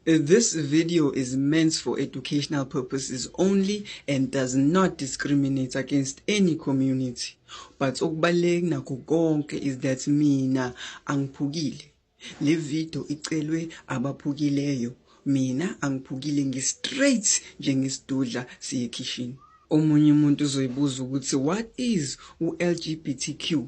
This video is meant for educational purposes only and does not discriminate against any community. But okubaluleke nakho konke is that mina angiphukile. Le video icelwe abaphukileyo. Mina angiphukile ngistraight njengesidudla siye kitchen. Omunye umuntu uzoyibuza ukuthi what is u-LGBTQ?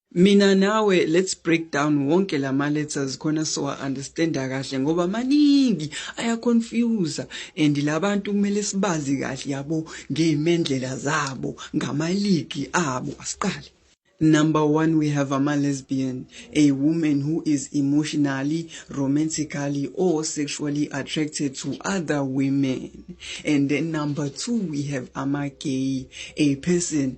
Mina nawe let's break down wonke lama letters khona so I understand kahle ngoba maningi aya confuse and labantu kumele sibazi kahle yabo ngeimendlela zabo ngamaligi abo asiqale Number one, we have ama lesbian, a woman who is emotionally, romantically, or sexually attracted to other women. And then number two, we have ama gay, a person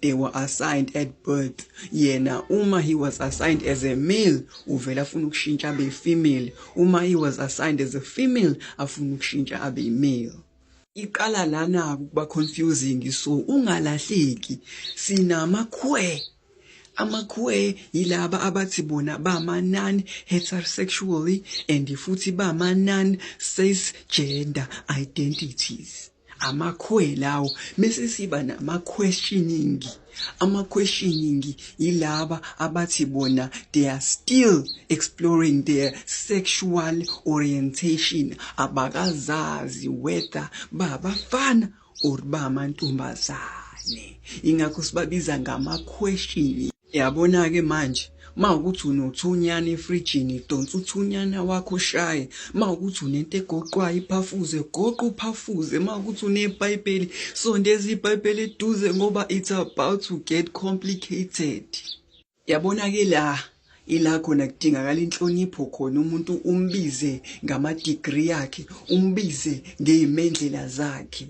they were assigned at birth yena uma he was assigned as a male uvela afuna ukushintsha abe female uma he was assigned as a female afuna ukushintsha abe male iqala lana ukuba confusing so ungalahleki sinamakhwe amakhwe yilaba abathi bona bama non heterosexually and futhi bama non cisgender identities amakhwe lawo mese siba nama questioning ama questioning yilaba abathi bona they are still exploring their sexual orientation abakazazi whether babafana or bamantombazane ingakho sibabiza ngama questioning Yabona-ke manje uma ukuthi unothunyana efrijini donsa uthunyana wakho shaye uma ukuthi unento egoqwayo iphafuze goqa uphafuze uma ukuthi unebhayibheli sondeza ibhayibheli eduze ngoba it's about to get complicated yabona-ke la ila khona kudingakala inhlonipho khona umuntu umbize ngamadigri yakhe umbize ngeyimendlela zakhe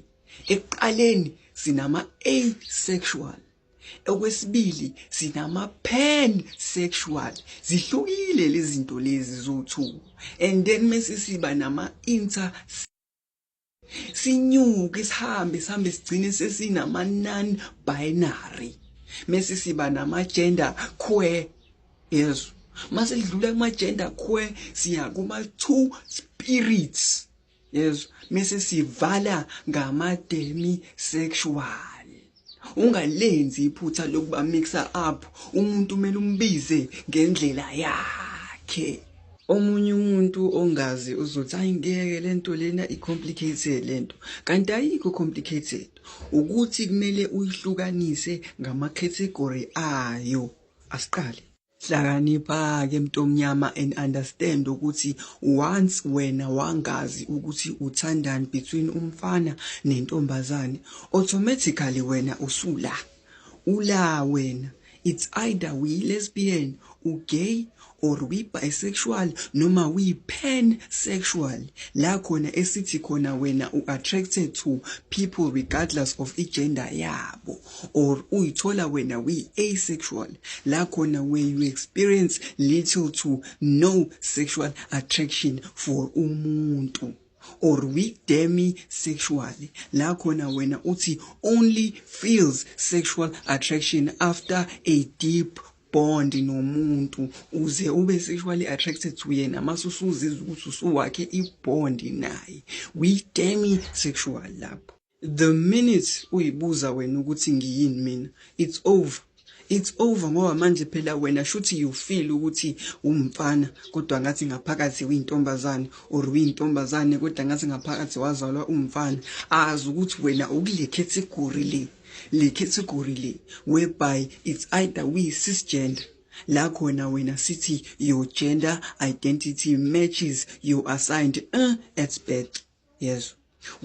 ekuqaleni sinama-asexual Okwesibili sinama pan sexual zihlukile lezi zinto lezi zowu-two and then mese siba nama inter sinyuke sihambe sihambe sigcine sesinama non binary mese siba nama gender queer yezwa mase lidlula kuma gender queer siya kuma two spirits yezwa mise sivala ngamademi sexual ungalenzi iphutha lokuba mixa up umuntu kumele umbize ngendlela yakhe omunye umuntu ongazi uzothi ayi ngeke lento lena i-complicated lento kanti ayikho complicated ukuthi kumele uyihlukanise ngama-category ayo asiqale Hlakanipha-ke mntomnyama and understand ukuthi once wena wangazi ukuthi uthandani between umfana nentombazane automatically wena usula ula wena it's either we lesbian ugay or we bisexual noma we pan sexual la khona esithi khona wena u attracted to people regardless of igender yabo or uyithola wena uyi-asexual la khona where you experience little to no sexual attraction for umuntu or we-demi sexual la khona wena uthi only feels sexual attraction after a deep bond nomuntu uze ube sexually attracted to yena mase usuzizwa ukuthi usuwakhe ibond naye we-demi sexual lapho The minute uyibuza wena ukuthi ngiyini mina it's over it's over ngoba manje phela wena shuthi you feel ukuthi umfana kodwa ngathi ngaphakathi uyintombazane or uyintombazane kodwa ngathi ngaphakathi wazalwa umfana azi ukuthi wena ukule category le le category le whereby it's either we cisgender la khona wena sithi your gender identity matches your assigned uh, at birth yezo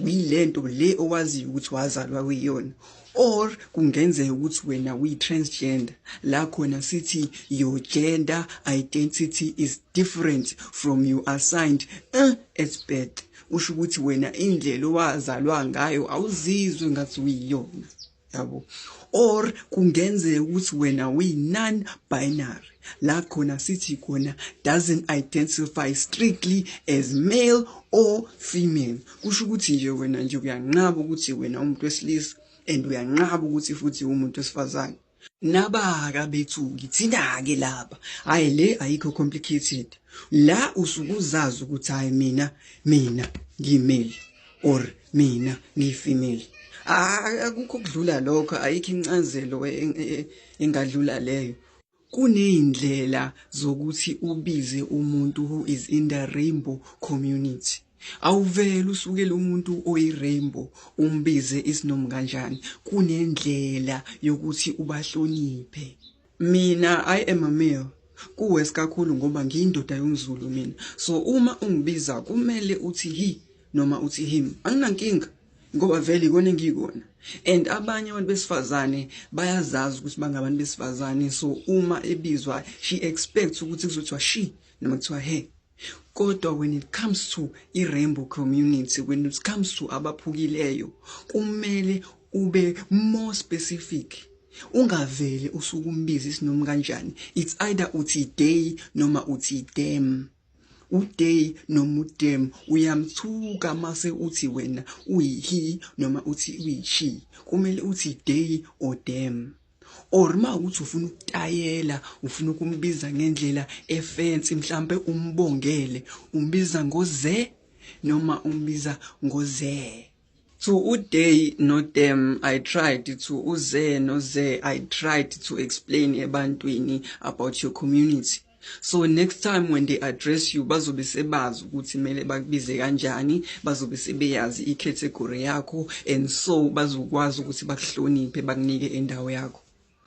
uyilento le owaziyo ukuthi wazalwa kuyona or kungenzeka ukuthi wena uyi-transgender la khona sithi your gender identity is different from you assigned uh, at birth usho ukuthi wena indlela owazalwa ngayo awuzizwe ngathi uyiyona yabo or kungenzeka ukuthi wena uyi-non binary la khona sithi khona doesn't identify strictly as male or female kusho ukuthi nje wena nje uyanqaba ukuthi wena umuntu wesilisa and uyanqaba ukuthi futhi umuntu wesifazane nabaka bethuki thina-ke laba hhayi le ayikho complicated la usukuzazi ukuthi hhayi mina mina ngimeli or mina ngiyifemale akukho kudlula lokho ayikho incazelo e, e, e, engadlula leyo kuneyindlela zokuthi ubize umuntu who is in the rainbow community awuvele usukele umuntu oyirainbow umbize isinomu kanjani kunendlela yokuthi ubahloniphe Mina I am a male kuwe sikakhulu ngoba ngiyindoda yomzulu mina so uma ungibiza kumele uthi hi noma uthi him anginankinga ngoba vele ikona engiyikona and abanye abantu besifazane bayazazi ukuthi bangabantu besifazane so uma ebizwa she expects ukuthi kuzothiwa she noma kuthiwa he Kodwa when it comes to i-rainbow community, when it comes to abaphukileyo, kumele ube more specific. Ungavele usukumbiza isinoma kanjani. It's either uthi day noma uthi dem. Uday noma udem uyamthuka mase uthi wena uyihi noma uthi uyishi. Kumele uthi day or dem. or uma ukuthi ufuna ukutayela ufuna ukumbiza ngendlela efensi mhlambe umbongele umbiza ngoze noma umbiza ngoze to uday no them i tried to uze no ze i tried to explain ebantwini about your community So next time when they address you bazobe sebazi ukuthi mele bakubize kanjani bazobe sebeyazi i category yakho and so bazokwazi ukuthi bakuhloniphe bakunike indawo yakho